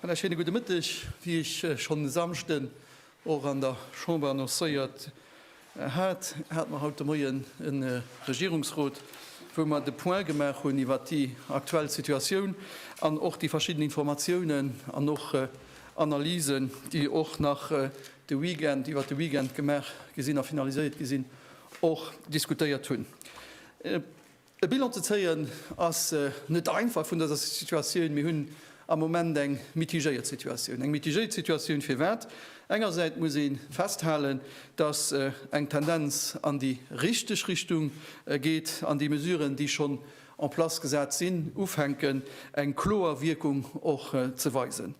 Voilà, schöne gute Mëtteg. Wie ech äh, schon Samschten och an der Chamber annoncéiert äh, hat, hat man haut de Moien en äh, Regierungsrot, wou man de Point gemaach hunn iwwer déi aktuell Situatioun an och déi verschidden Informatiounen an och äh, Analysen, déi och nach de Weekend iwwert de Weekend gemaach gi sinn a finaliséiert gi sinn, och diskutéiert hunn. E Bilan ze zéien ass net einfach vun dëser Situatioun. Mir hunn am Moment eng mitigéiert Situatioun. Eng mitigéiert Situatioun firwat? Engersäit muss ee festhalen, dass eng Tendenz an déi richteg Richtung geet an déi Mesuren, déi schonn en place gesat sinn, ufänken eng kloer Wierkung och ze weisen.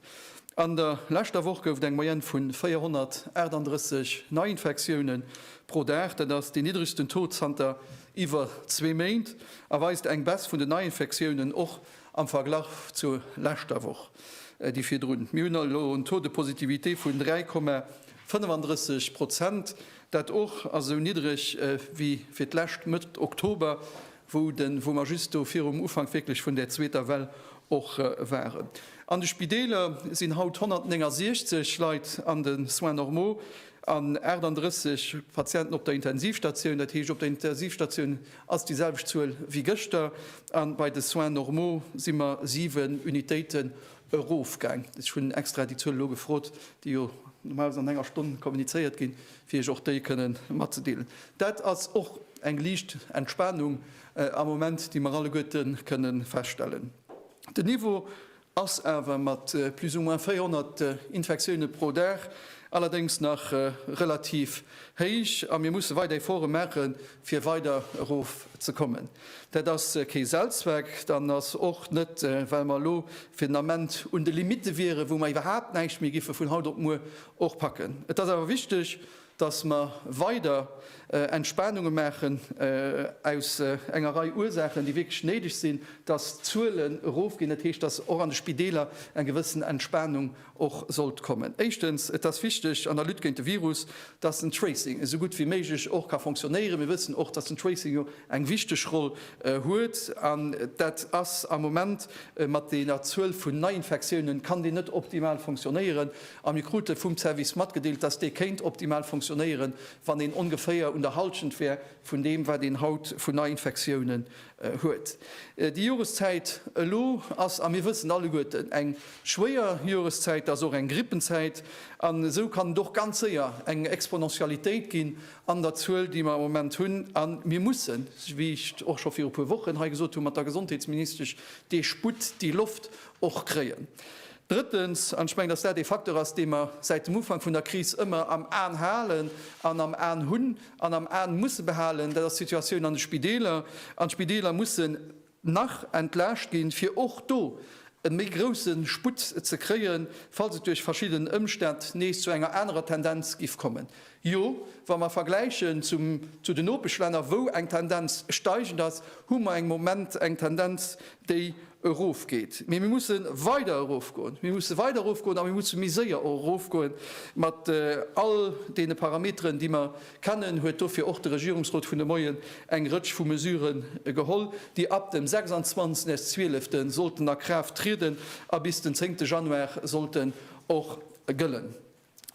An der leschter Woch gouf et eng Moyenne vu 438 Neiinfektioune pro Dag. Dat ass deen niddregsten Taux zanter iwwer zwee Méint a weist eng Baisse vun den Neiinfektiounen och am Verglach zur leschter Woch, déi virdrun. Mir hunn elo en Taux de positivité vun 3,35 Prozent, dat och ass esou niddreg wéi fir d'lescht Mëtt Oktober. wou den, wou mer just do virum Ufank wierklech vun där zweeter Well och waren. An de Spideeler sinn haut 169 Leit an de Soins normaux an 38 Patienten op der Intensivstatioun. Dat heescht, op der Intensivstatioun ass déi selwecht Zuel wéi gëschter a bei de Soins normaux si mer siwen Unitéiten erofgaang. Ech hunn extra déi Zuel elo gefrot, déi jo normalerweis an enger Stonn kommunizéiert ginn. fir Iech och déi kënnen matzedeelen. Dat ass och eng liicht Entspanung am Moment, déi mer alleguerte kënne feststellen. Den Niveau ass awer mat plus ou moins 400 Infektioune pro Dag allerdéngs nach relativ héich a mir musse weider Efforte maache fir weider erof ze kommen. Dat ass kee Selbstzweck an ass och net, well mer elo fir den Ament un de Limitte wieren, wou mer iwwerhaapt näischt méi giffe vun haut op muer Och packen. Et ass awer wichteg, dass mer weider Entspanunge maachen, aus enger Rei Ursaachen, déi wierklech néideg sinn. Dass d'Zuelen erofginn, dat heescht, dass och an de Spideeler eng gewëssen Entspanung och sollt kommen. Éischtens, et ass wichteg an der Lutte géint de Virus, dass den Tracing esou gutt wéi méiglech och ka fonctionnéieren. Mir wëssen och, dass den Tracing jo eng wichteg Roll huet. An dat ass am Moment, mat deeër Zuel vun Neiinfektiounen, kann deen net optimal fonctionnéieren. A mir krute vum Service matgedeelt, dass dee kéint optimal funktionéieren, wann een ongeféier un der Halschent wär vun deem, wat een haut vun Neiinfektiounen huet. Déi Joreszäit elo ass, a mir wëssen alleguerten, eng schwéier Joreszäit, ass och eng Grippenzäit. An esou kann et och ganz séier eng Exponentialitéit ginn an der Zuel, déi mer am Moment hunn. A mir mussen, wéi ech et och scho viru puer Wochen hei gesot hunn, mat der Gesondheetsministesch dee Sputt, déi Loft och kréien. Drëttens, an ech mengen, dass dat ee Facteur ass, dee mer säit dem Ufank vun der Kris ëmmer am An halen an am An hunn an am An musse behalen, dat ass d'Situatioun an de Spideeler. An d'Spideeler mussen nach entlaascht ginn, fir och do e méi grouse Sputt ze kréien, falls et duerch verschidden Ëmstänn nees zu enger anerer Tendenz giff kommen. Jo, wa mer vergläichen zum, zu de Nopeschlänner, wou eng Tendenz steigend ass, hu mer eng Moment eng Tendenz, déi erofgeet. Mee mir musse weider erofgoen. Mir musse weider erofgoen a mir musse méi séier och erofgoe mat all deene Parameteren, déi mer kennen. Huet dofir och de Regierungsrot vun de Moien eng Rëtsch vu Mesure geholl, déi ab dem 26 Zwieelefte sollten a Kraaft trieden a bis den 10 Januar sollten och gëllen.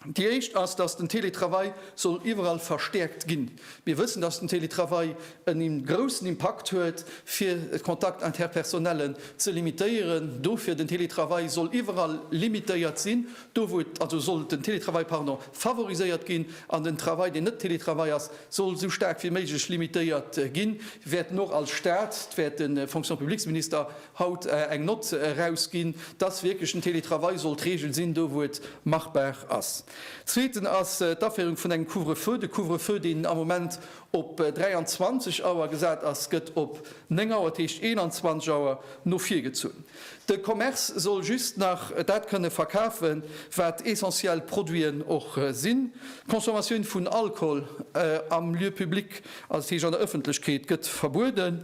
Déi éischt ass, dass den Teletravail soll iwwerall verstäerkt ginn. Mir wëssen, dass den Teletravail en groussen Impakt huet, fir d'Contacts interpersonnellen ze limitéieren. Dofir den Teletravail soll iwwerall limitéiert sinn, do wou et, also soll den Teletravail, pardon, favoriséiert ginn, an den Travail, deen net Teletravail ass, soll esou staark wéi méiglech limitéiert ginn. Wäerten och als Stat, wäert de Fonction-publiques-Minister, haut eng Nott erausginn, dass wierklech den Télétravail soll d'Regel sinn, do wou et machbar ass. Zweeten ass d'Aféierung vun engem Couvre-feu. De Couvre-feu, deen am Moment op 23 Auer gesat ass, gëtt op 9 Auer, dat heescht 21 Auer, no vir gezunn. De Commerce soll just nach dat kënne verkafen, wat essentiell Produiten och sinn. D'Consommatioun vun Alkohol am Lieu public, also dat heescht an der Ëffentlechkeet, gëtt verbueden.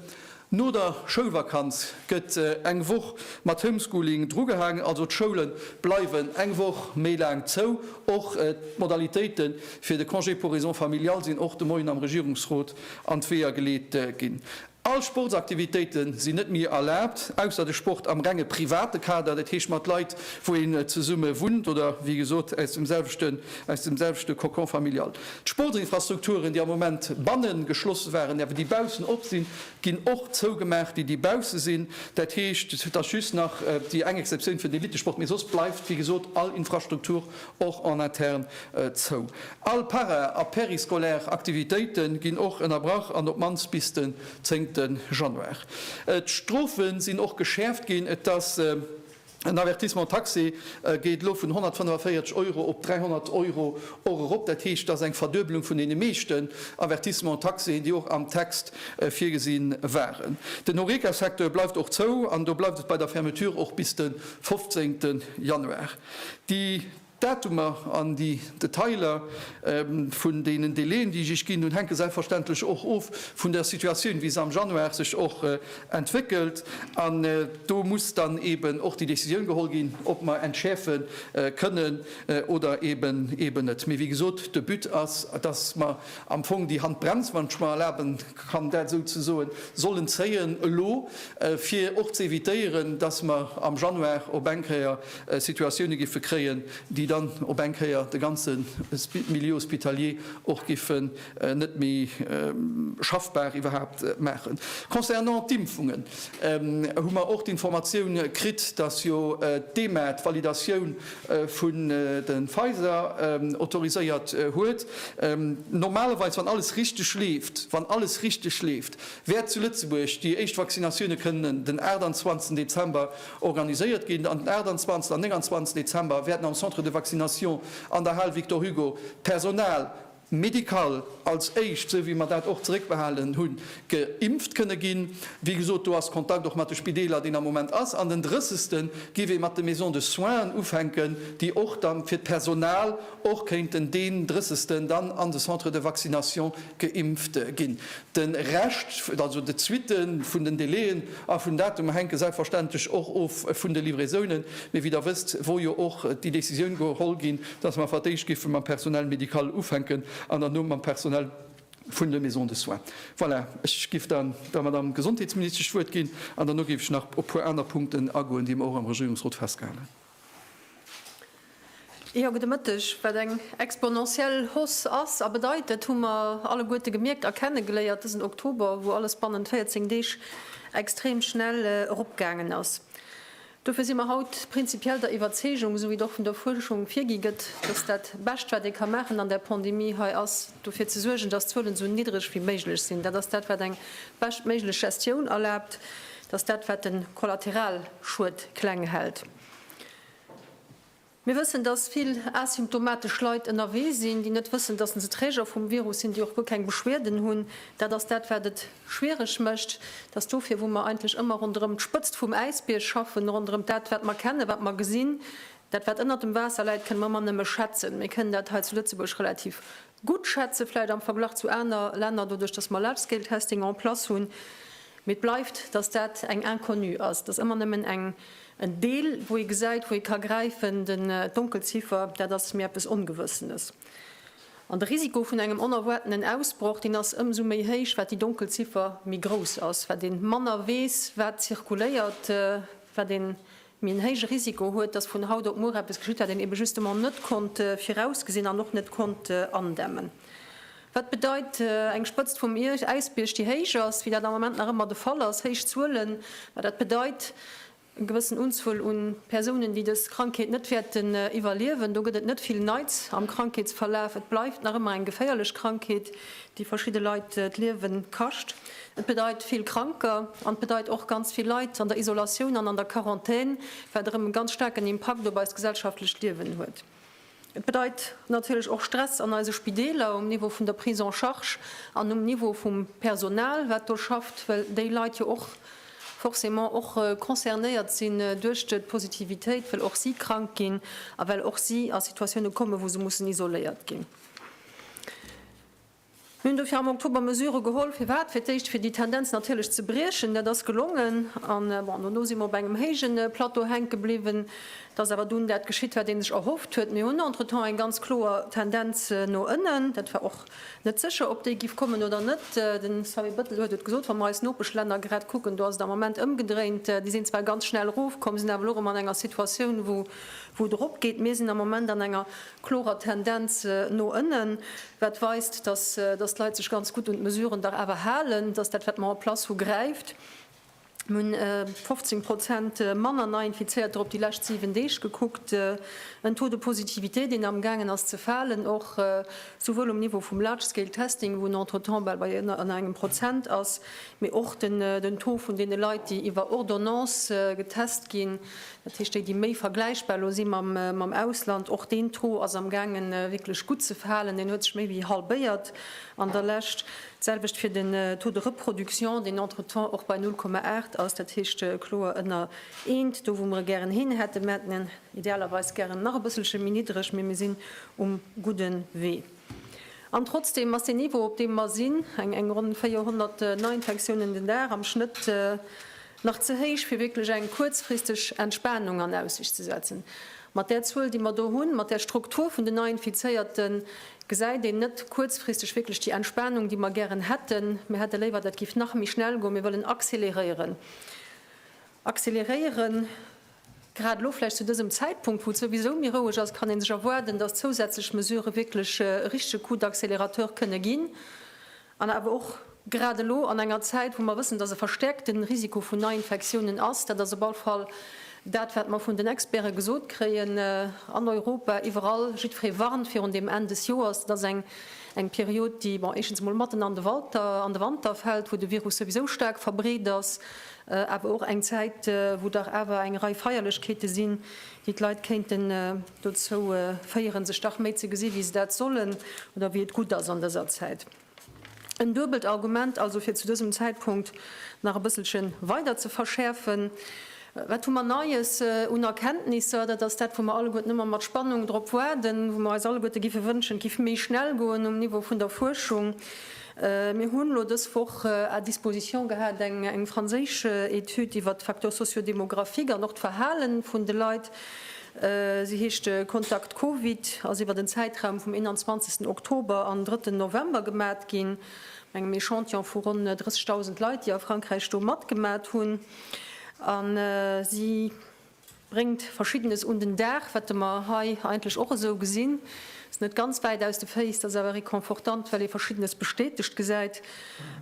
No der Schoulvakanz gëtt eng Woch mat Homeschooling drugehaangen, also d'Schoule bleiwen eng Woch méi laang zou. Och d'Modalitéite fir de Congé pour raisons familiales sinn och de Moien am Regierungsrot an d'Weeër geleet ginn. All Sportsaktivitéite sinn net méi erlaabt, ausser de Sport am renge private Kader, dat heescht mat Leit, wou een zesumme wunnt oder wéi gesot aus dem selwechte Cocon familial. D'Sportinfrastrukturen, déi am Moment banne geschlosse waren, awer déi baussen op sinn, ginn och zougemaach, déi déi bausse sinn. Dat heescht, et ass just nach déi eng Exceptioun fir den Elittesport, mee soss bleift, wéi gesot, all Infrastruktur och en interne zou. All para a périscolaire Aktivitéite ginn och ënnerbrach an op d'mannst bis den 10 Januar. D'Strofe sinn och geschäerft ginn. Et ass. En Avertissement taxé geet elo vun 145 Euro op 300 Euro och erop. Dat heescht, et ass eng Verduebelung vun deene meeschten Avertissements taxés, déi och am Text virgesi waren. Den Horeca-Secteur bleift och zou an do bleift et bei der Fermeture och bis de 15 Januar. Déi. D'Datumer an déi Detailer vun deenen Délai'en, déi ech Iech ginn hunn, hänke selbstverständlech och of vun der Situatioun, wéi se am Januar sech och entwéckelt. An do muss dann eeben och déi Décisioun geholl ginn, ob mer entschäerfe kënnen oder eeben net. Mee wéi gesot, de But ass, dass mer am Fong déi Handbrems, wann ech mer erlaben kann, dat esou ze soen, sollen zéien elo, fir och ze évitéieren, dass mer am Januar op eng Kéier Situatioune giffe kréien, déi dann op eng Kéier de ganze Milieu hospitalier och giffen net méi schaffbar iwwerhaapt maachen. Concernant d'Impfungen hu mer och d'Informatioun kritt, datt jo d'EMA d'Validatioun vun de Pfizer autoriséiert huet. Normalerweis, wann alles richteg leeft, wann alles richteg leeft, wäert zu Lëtzebuerg déi éischt Vaccinatioune kënnen den 28 Dezember Organiséiert ginn. An den 28 an 29 Dezember wäerten am Centre de Vaccination an der Hal Victor Hugo d'Personal médical als éischt, sou wéi mer dat och zeréckbehalen hunn, geimpft kënne ginn. Wéi gesot, do ass Kontakt och mat de Spideeler, deen am Moment ass. An den 30 gi wir mat de Maisons de soins ufänken, déi och da fir d'Personal och kéinten deen 30 dann an de Centre de Vaccination Geimpfte ginn. De Rescht, also de Suitte vun den Délai'en a vun Datumer hänke selbstverständlech och of vun de Livraisonen. Mee wéi Der wësst, wor jo och déi Décisioun geholl ginn, dass mer fir d'éischt géife mam Personnel médical ufänken an derno mam Personnel vun de Maisons de soins. Voilà, ech géif dann der Madame Gesondheetsministesch d'Wuert ginn an derno géif ech nach op puer aner Punkten agoen, déi mer och am Regierungsrot festgehalen. Jo, gudde Mëtteg. Wat eng exponentiell Hausse ass a bedeit, dat hu mer alleguerte gemierkt a kennegeléiert dësen Oktober, wou alles bannent 14 Deeg extrem schnell eropgaangen ass. Dofir si mer haut prinzipiell der Iwwerzeegung, esou wéi et och vun der Fuerschung virgi gëtt, dass dat Bescht, wat ee ka maachen an där Pandemie hei, ass dofir ze suergen, dass d'Zuelen esou niddreg wéi méiglech sinn. Dat ass dat, wat eng beschtméiglech Gestioun erlaabt. dass dat wat den Kollateralschued kleng hält. Mir wëssen, dass vill asymptomatesch Leit ënnerwee sinn, déi net wëssen, dass se Träger vum Virus sinn, déi och guer keng Beschwieden hunn. Dat ass dat wat et schwiereg mécht. Et ass dofir wou mer eigentlech ëmmer ronderëm d'Spëtzt vum Äisbierg schaffen, ronderëm dat wat mer kennen, wat mer gesinn. Dat wat ënnert dem Waasser läit kënne mer ëmmer nëmme schätzen. Mir kënnen dat hei zu Lëtzebuerg relativ gutt schätzen, vläicht am Verglach zu aner Länner, doduerch datt mer Large-Scale-Testing en place hunn, mee et bleift, datt dat eng Inconnue ass. Et ass ëmmer nëmmen en Deel, wou ee gesäit, wou ee ka gräifen. D'Donkelziffer, dat ass mir eppes Ongewëssenes. An de Risiko vun engem onerwaartenen Ausbroch, deen ass ëmsou méi héich, wat déi Donkelziffer méi grouss ass, wat ee manner weess, wat zirkuléiert, wat ee mee en héije Risiko huet, dass vun haut op muer eppes geschitt, wat een ebe justement net konnt virausgesinn an och net konnt andämmen. Wat bedeit eng Spëtzt vum Äisbierg, déi héich ass, wéi dat am Moment nach ëmmer de Fall ass, héich Zuelen? Ma dat bedeit e gewëssen Unzuel u Persounen, déi dës Krankheet net wäerten iwwerliewen. Do gëtt et net vill Neits am Krankheetsverlaf. Et bleift nach ëmmer eng geféierlech Krankheet, déi verschidde Leit d'Liewe kascht. Et bedeit vill Kranker an et bedeit och ganz vill Leit an der Isolatioun an an der Quarantän, wat erëm e ganz staarken Impakt op eist gesellschaftlecht Liewen huet. Et bedeit natierlech och Stress an eise Spideeler, um Niveau vun der Prise en charge an um Niveau vum Personal, wat do schafft, well déi Leit jo och forcément och concernéiert sinn duerch d'Positivitéit, well och si krank ginn a well och si a Situatioune kommen, wou se mussen isoléiert ginn. Mir hunn dofir am Oktober Mesurë geholl, firwat? Fir d'éischt, fir déi Tendenz natierlech ze briechen. Dat ass gelongen. An, bon, dono si mer op engem héije Plateau hänke bliwwen. Et ass awer dunn dat geschitt, wat ee sech erhofft huet. Mir hunn entretemps eng ganz kloer Tendenz no ënnen. Dat war och net sécher, ob déi giff kommen oder net. De Xavier Bettel huet et gesot, Wa mer eis Nopeschlänner grad kucken, do ass et am Moment ëmgedréint. Déi sinn zwar ganz schnell erofkomm, sinn awer elo erëm an enger Situatioun, wou et eropgeet. Mir sinn am Moment an enger klorer Tendenz no ënnen, wat weist, dass d'Leit sech ganz gutt un d'Mesuren dach awer halen, dass dat wat mer en place hu gräift. Mir hunn 15 Prozent manner Neiinfizéierter op déi lescht 7 Deeg gekuckt, en Taux de positivité deen am gaangen ass ze falen, och souwuel um Niveau vum large scale testing, wou en entretemps bal bei ënner engem Prozent ass, mee och den Taux vun deene Leit, déi iwwer Ordonnance getest ginn, Dat heescht, déi, déi méi vergläichbar elo si mam Ausland, och deen Taux ass am gaange wierklech gutt ze falen, deen huet sech méi wéi halbéiert an der Lescht. D'selwecht fir den Taux de reproduction, deen entretemps och bei 0,8 ass, dat heescht kloer ënner eent, do wou mer e gären hin hätte mâtnen, idealerweis gären nach e bësselche méi niddreg, mee mir sinn um gudde Wee. An trotzdem ass deen Niveau, op deem mer sinn, eng ronn 400 Neiinfektiounen den Dag am Schnëtt, Nach ze héich, fir wierklech eng kuerzfristeg Entspanung an Aussicht ze setzen. Mat där Zuel, déi mer do hunn, mat där Struktur vun den Neiinfizéierten, gesäit een net kuerzfristeg wierklech déi Entspanung, déi mer gären hätten. Mir hätte léiwer, dat géif nach méi schnell goen. Mir wëllen accéléréieren. Accéléréieren! Grad elo, vläicht zu dësem Zäitpunkt, wou et souwisou méi roueg ass, kann ee sech erwaarden, dass zousätzlech Mesurë wierklech e richtege Coup d'accélérateur kënne ginn. An awer och grad elo an enger Zäit, wou mer wëssen, dass e verstäerkte Risiko vun Neiinfektiounen ass, dat ass op all Fall dat, wat mer vun den Experte gesot kréien an Europa, iwwerall, jiddweree warnt virun deem Enn des Joers. Dat ass eng Period, déi, bon, éischtens emol matten an de Walter, an de Wanter fält, wou de Virus souwisou staark verbreet ass, awer och eng Zäit, wou dach awer eng Rei Feierlechkeete sinn, déi d'Leit kéinten dozou féieren, sech dach méi ze gesi wéi se dat sollen oder wéi et gutt ass an dëser Zäit. En duebelt Argument also, fir zu dësem Zäitpunkt nach e bësselche weider ze verschäerfen. Wat hu mer Neies un Erkenntnisser? Dat ass dat, wou mer alleguerten ëmmer mat Spannung drop waarden, wou mer eis alleguerte géife wënschen, et géif méi schnell goen um Niveau vun der Fuerschung. Mir hunn elo dës Woch à disposition gehat eng franséisch Etüd iwwert d'Facteurs socio-démographiques an och d'Verhale vun de Leit. Si heescht Contact Covid, ass iwwert en Zäitraum vum 21 Oktober an 3 November gemat ginn, mat engem Echantillon vu ronn 30.000 Leit, déi a Frankräich do matgemat hunn. A si Bréngt Verschiddenes un den Dag, wat e mer hei eigentlech och esou gesinn. Ass net ganz wäit aus de Féiss, ass awer reconfortant, well ee Verschiddenes bestätegt gesäit.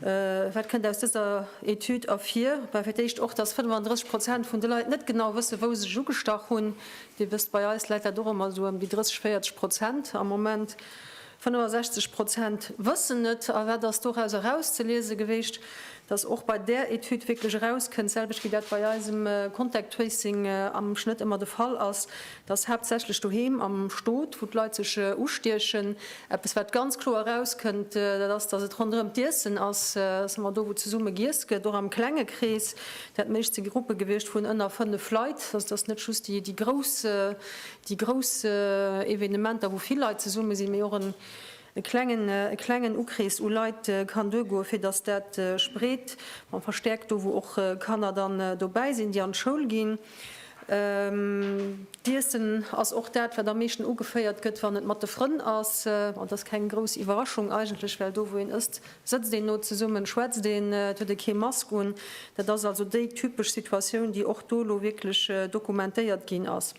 Wat kënnt aus dëser Etüd ervir? Bah, fir d'éischt och, dass 35 Prozent vun de Leit net genau wësse wou se sech ugestach hunn. Dir wësst, bei eis läit dat och ëmmer esou ëm déi 30, 40 Prozent am Moment. 65 Prozent wëssen net. A wat ass doraus erauszeliese gewiescht? Dass och bei där Etüd wierklech erauskënnt, d'selwecht wéi dat bei eisem Contact Tracing am Schnëtt ëmmer de Fall ass, dass haaptsächlech doheem am Stot, wou d'Leit sech ustiechen. Eppes wat ganz kloer erauskënnt, dat ass, dass et ronderëm d'Iessen ass, dass ëmmer do wou zesumme giess gëtt, och am klenge Krees, dat meescht si Gruppe gewiescht vun ënner fënnef Leit, also dass net just déi grouss Déi grouss Evenementer, wou vill Leit zesumme sinn, mee och e klengen Ukrees u Leit kann duergoen, fir datt dat sech breet a verstäerkt, do wou och Kanner dann dobäi sinn, déi an d'Schoul ginn. D'Iessen ass och dat, wat am meeschten ugeféiert gëtt, wann et mat de Frënn ass. Dat ass keng grouss Iwwerraschung eigentlech, well do wou een ësst, Sëtzt een no zesummen, schwätzt een, et huet ee kee Mask un. Dat ass also déi typesch Situatioun, déi och do elo wierklech dokumentéiert ginn ass.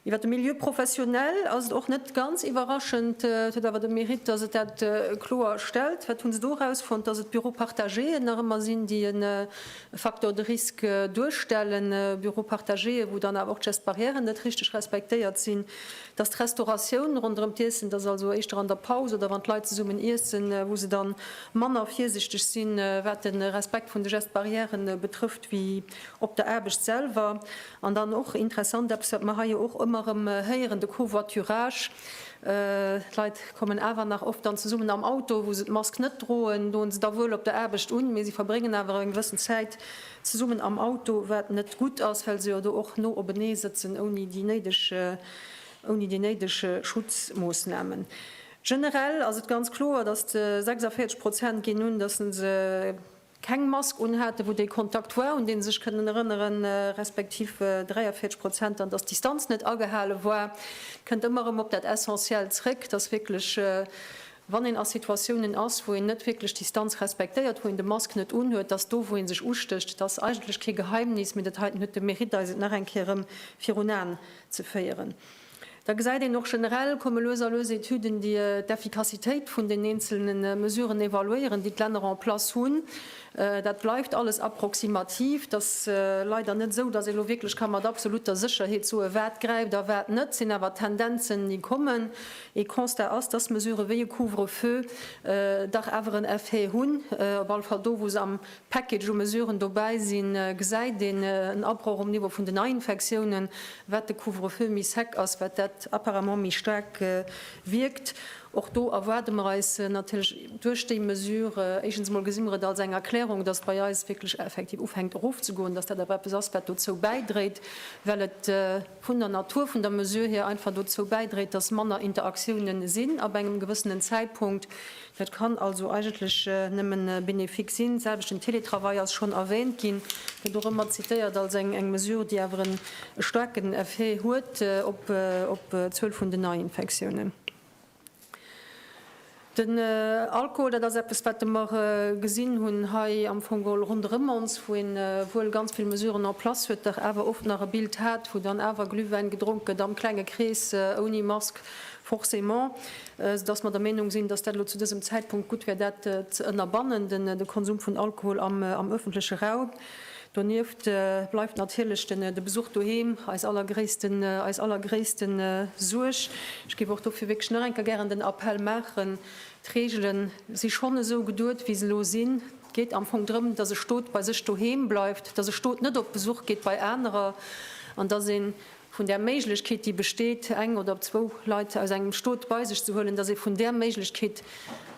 Iwwer de Milieu professionnel ass et och net ganz iwwerraschend. Et huet awer de Mérite, datt et dat kloer stellt. Wat hu se do erausfonnt? Datt et d'Büros partagéen nach ëmmer sinn, déi e Facteur de risque duerstellen. Büros partagéen, wou dann awer och d'Geste barrièren net richteg respektéiert sinn. dass d'Restauratioun ronderëm d'Iessen, dass also éischter an der Paus oder wann d'Leit zesummen iessen, wou se dann manner virsichteg sinn, wat de Respekt vun de Gestes barrières betrëfft, wéi op der Aarbecht selwer. An dann och interessant, eppes wat mer hei jo och ëmmer erëm héieren, de Covoiturage. D'Leit kommen awer nach oft dann zesummen am Auto, wou se d'Mask net droen, doen se da wuel op der Aarbecht un, mee se verbréngen awer eng gewëssen Zäit zesummen am Auto, wat net gutt ass, well se jo do och no openee sëtzen, ouni déi néideg, ouni déi néideg Schutzmoossnamen. Generell ass et ganz kloer, dass de 46 Prozent ginn un, dass se se keng Mask unhaten, wou dee Kontakt war, un dee se sech kënnen erënneren, respektiv 43 Prozent dann, dass d'Distanz net agehale war. Et kënnt ëmmer erëm op dat Essentiellt zréck, dass wierklech wann een a Situatiounen ass, wou een net wierklech d'Distanz respektéiert, wou een de Mask net unhuet, dass do, wou ee sech ustécht. Et ass eigentlech kee Geheimnis, mee dat heiten huet de Mérite, eis et nach eng Kéier erëm virun Aen ze féieren. Da gesäit een och, generell komme lues a lues Etüden, déi d'Effikassitéit vun den eenzelne Mesuren evaluéieren, déi d'Länner en place hunn. Dat bleift alles approximativ. Et ass leider net esou, dass ee elo wierklech ka mat absolutter Sécherheet soen, wat gräift a wat net. Et sinn awer Tendenzen, déi kommen. Ee Constat ass, dass Mesurë wéi e Couvre-feu dach awer en Effet hunn. Op alle Fall do, wou se am Package u Mesuren dobäi sinn, gesäit een en Abroch um Niveau vun den Neiinfektiounen. Wat de Couvre-feu méi sec ass, wat dat apparemment méi staark wierkt. Och do erwaarde mer eis natierlech duerch déi Mesure, éischtens emol gesi mer et als eng Erklärung, dass bei eis wierklech effektiv ufänkt erofzegoen, dass dat awer eppes ass, wat dozou bäidréit, well et, vun der Natur vun der Mesure hier einfach dozou bäidréit, dass manner Interaktioune sinn ab engem gewëssenen Zäitpunkt. Dat kann also eigentlech nëmme bénéfique sinn. D'selwecht den Télétravail ass schonn erwähnt ginn, gëtt och ëmmer zitéiert als eng Mesure, déi awer e staarken Effet huet op d'Zuel vun den Neiinfektiounen. Den Alkohol, dat ass eppes, wat mer gesinn hunn hei am Fong all ronderëm ons, wou een wuel ganz vill Mesuren en place huet, dach awer oft nach e Bild hat, wou dann awer Glühwäin gedronk gëtt, am klenge Krees, ouni Mask forcément, soudass mer der Meinung sinn, dass dat elo zu dësem Zäitpunkt gutt wär, dat ze ënnerbannen, de Konsum vun Alkohol am öffentleche Raum. Donieft bleift natierlech de Besuch doheem eis allergréissten, eis allergréissten Suerg. Ech géif och dofir wierklech nach eng Kéier gären den Appell maachen, d'Reegele si schonn esou geduet, wéi se elo sinn. Et geet am Fong drëm, dass e Stot bei sech doheem bleift, dass e Stot net op Besuch geet bei anerer an dass een vun där Méiglechkeet, déi besteet, eng oder zwou Leit aus engem Stot bei sech ze huelen, dass ee vun där Méiglechkeet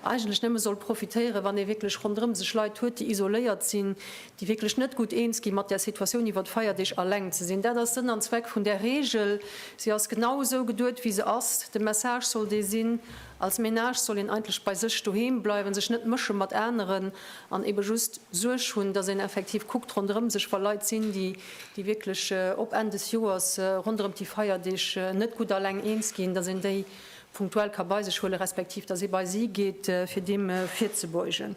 eigentlech nëmme soll profitéieren, wann ee wierklech ronderëm sech Leit huet, déi isoléiert sinn, déi wierklech net gutt eens gi mat där Situatioun, iwwer d'Feierdeeg aleng ze sinn. Dat ass Sënn an Zweck vun där Reegel. Si ass genau esou geduet, wéi se ass. De Message soll dee sinn, Als Menage soll een eigentlech bei sech doheem bleiwen, sech net mësche mat aneren an eebe just Suerg hunn, dass een effektiv kuckt ronderëm sech, wa Leit sinn, déi déi wierklech op Enn des Joers ronderëm déi Feierdeeg net gutt alleng eens ginn, datt een déi punktuell ka bei sech huelen, respektiv datt ee bei si geet, fir deem virzebeugen.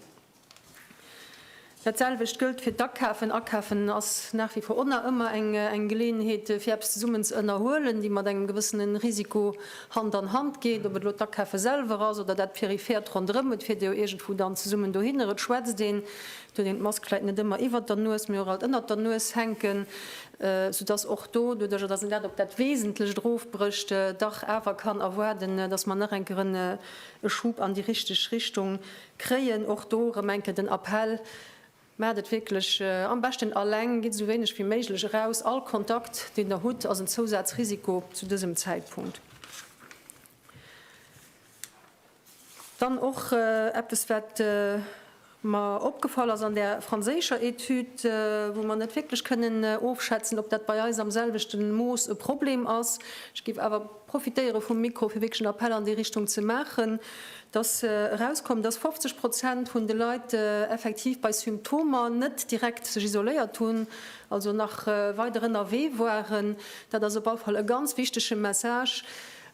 Dat selwecht gëllt fir d'Akafen. Akafen ass nach wie vor orna ëmmer eng Geleeënheet, fir eppes zesummen ze ënnerhuelen, déi mat engem gewëssene Risiko Hand an Hand geet. Ob et elo d'Akafe selwer ass oder dat Peripheert ronderëm, et fiert ee jo iergendwou dann zesummen dohinner. Et schwätzt ee Fir een d'Mask vläit net ëmmer iwwert der Nues, mee och alt ënnert der Nues hänken, sou dass och do, doduerjer dass een dat op dat Wesentlecht erofbrécht, dach awer kann erwaarden, dass mer nach eng Kéier en e Schub an déi richteg Richtung kréien. Och do erëm eng Kéier den Appell, Maacht et wierklech am beschten alleng, gitt esou wéineg wéi méiglech eraus. All Kontakt, deen der hutt, ass en Zousazrisiko zu dësem Zäitpunkt. Dann och eppes, wat mer opgefall ass an där franséischer Etüd, wou mer net wierklech kënnen ofschätzen, ob dat bei eis am selwechte Mooss e Problem ass. Ech géif awer profitéiere vum Mikro, fir wierklech en Appell an déi Richtung ze maachen, dass erauskoum, dass 50 Prozent vun de Leit effektiv bei Symptomer net direkt sech isoléiert hunn, also nach weider ënnerwee waren. Dat ass op alle Fall e ganz wichtege Message.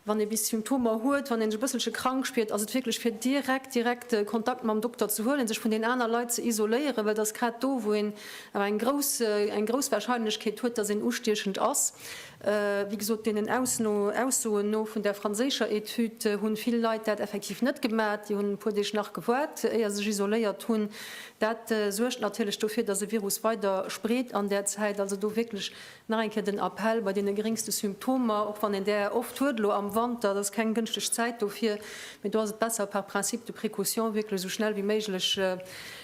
Wann ee bis Symptomer huet, wann een sech e bësselche krank spiert, ass et wierklech fir direkt, direkt Kontakt mam Dokter ze huelen, sech vun den aner Leit ze isoléieren, well et ass grad do, wou een awer eng grouss, eng grouss Warscheinlechkeet huet, dass een ustiechend ass. Wéi gesot, deenen Ausno, Aussoen no vun där franséischer Etüd hunn vill Leit dat effektiv net gemaat. Déi hunn e puer Deeg nach gewaart, éier se sech isoléiert hunn. Dat suergt natierlech dofir, dass e Virus weider spreet an där Zäit. Also do wierklech Nach eng Kéier den Appell, bei deene geringste Symptomer, och wann een där oft huet elo am Wanter, dat ass keng gënschteg Zäit dofir, mee do ass et besser par principe de précaution wierklech esou schnell wéi méiglech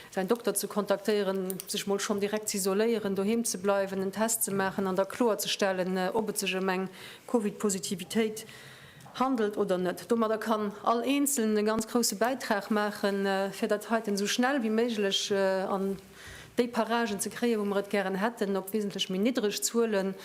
säin Dokter ze kontaktéieren, sech mol schonn direkt ze isoléieren, doheem ze bleiwen, en Test ze maachen an da kloerzestellen, ob et sech ëm eng Covid-Positivitéit handelt oder net. Domadder kann all Eenzelnen e ganz grouse Bäitrag maachen, fir dat heiten esou schnell wéi méiglech an. déi Paragen ze kréien, wou mer et gären hätten, op wesentlech méi niddreg Zuelen.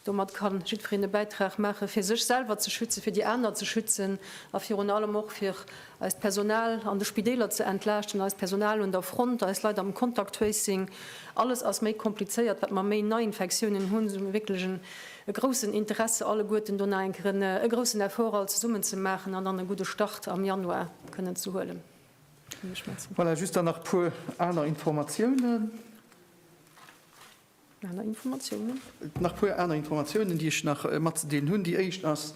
Domat ka jiddwereen e Bäitrag maachen, fir sech selwer ze schützen, fir déi aner ze schützen a virun allem och fir eist Personal an de Spideeler ze entlaaschten, eist Personal un der Front, eis Leit am Contact Tracing. Alles ass méi komplizéiert, wat mer méi Neiinfektiounen hunn, esou hu mer wierklech e groussen Interesse alleguerten do nach eng Kéier e groussen Effort all zesummen ze maachen an dann e gudde Start am Januar kënnen ze huelen. Voilà, just dann nach e puer aner Informatiounen. Aner Informatiounen? Nach e puer aner Informatiounen, déi ech nach matzedeelen hunn. Déi éischt ass,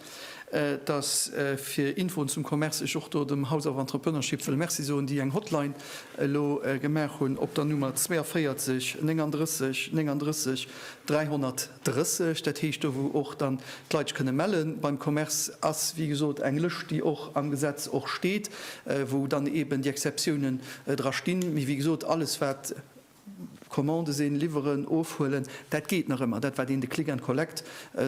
dass, fir Infoen zum Commerce, ech och do dem House of Entrepreneurship wëll Merci soen, déi eng Hotline elo gemaach hunn op der Nummer 42 39 39 330, dat heescht do wou och dann d'Leit sech kënne melle beim Commerce, ass wéi gesot eng Lëscht déi och am Gesetz och steet, wou dann eeben déi Exceptiounen dra stinn. Mee wéi gesot, alles wat Commande sinn, liwweren, ofhuelen, dat geet nach ëmmer, dat wat een de Click and Collect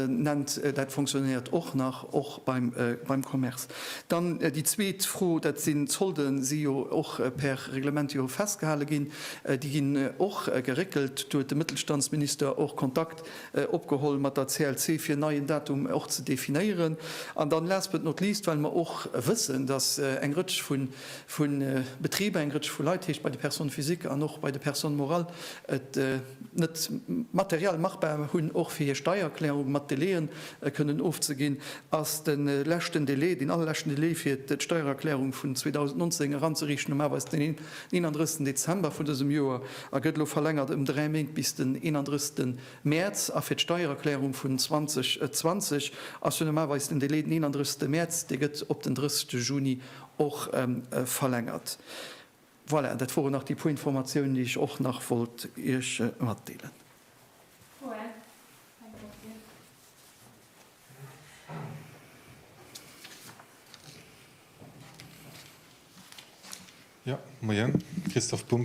nennt, dat fonctionnéiert och nach, och beim Commerce. Dann déi zweet Fro, dat sinn d'Solde si jo och per Reglement jo festgehale ginn. Déi ginn och geréckelt. Do huet de Mëttelstandsminister och Kontakt opgeholl mat der CLC, fir en neien Datum och ze definéieren. An dann, last but not least, well mer och wëssen, datt eng Rëtsch vun vu Betriber, eng Rëtsch vu Leit, heescht bei de Personnes physiques an och bei de Personnes morales, et net materiell machbar hunn, och fir hir Steiererklärung mat Delaien kënnen ofzeginn, ass de leschten Delai, deen allerleschten Delai fir d'Steiererklärung vun 2019 eranzeriichten um Aarbeits den 31. Dezember vun dësem Joer a gëtt elo verlängert ëm dräi Méint bis den 31. Mäerz. A fir d'Steiererklärung vun 2020 ass jo normalweis den Delai den 31. Mäerz, dee gëtt op den 30. Juni och verlängert. Voilà, dat woren nach déi puer Informatiounen, déi ech och nach wollt Iech matdeelen.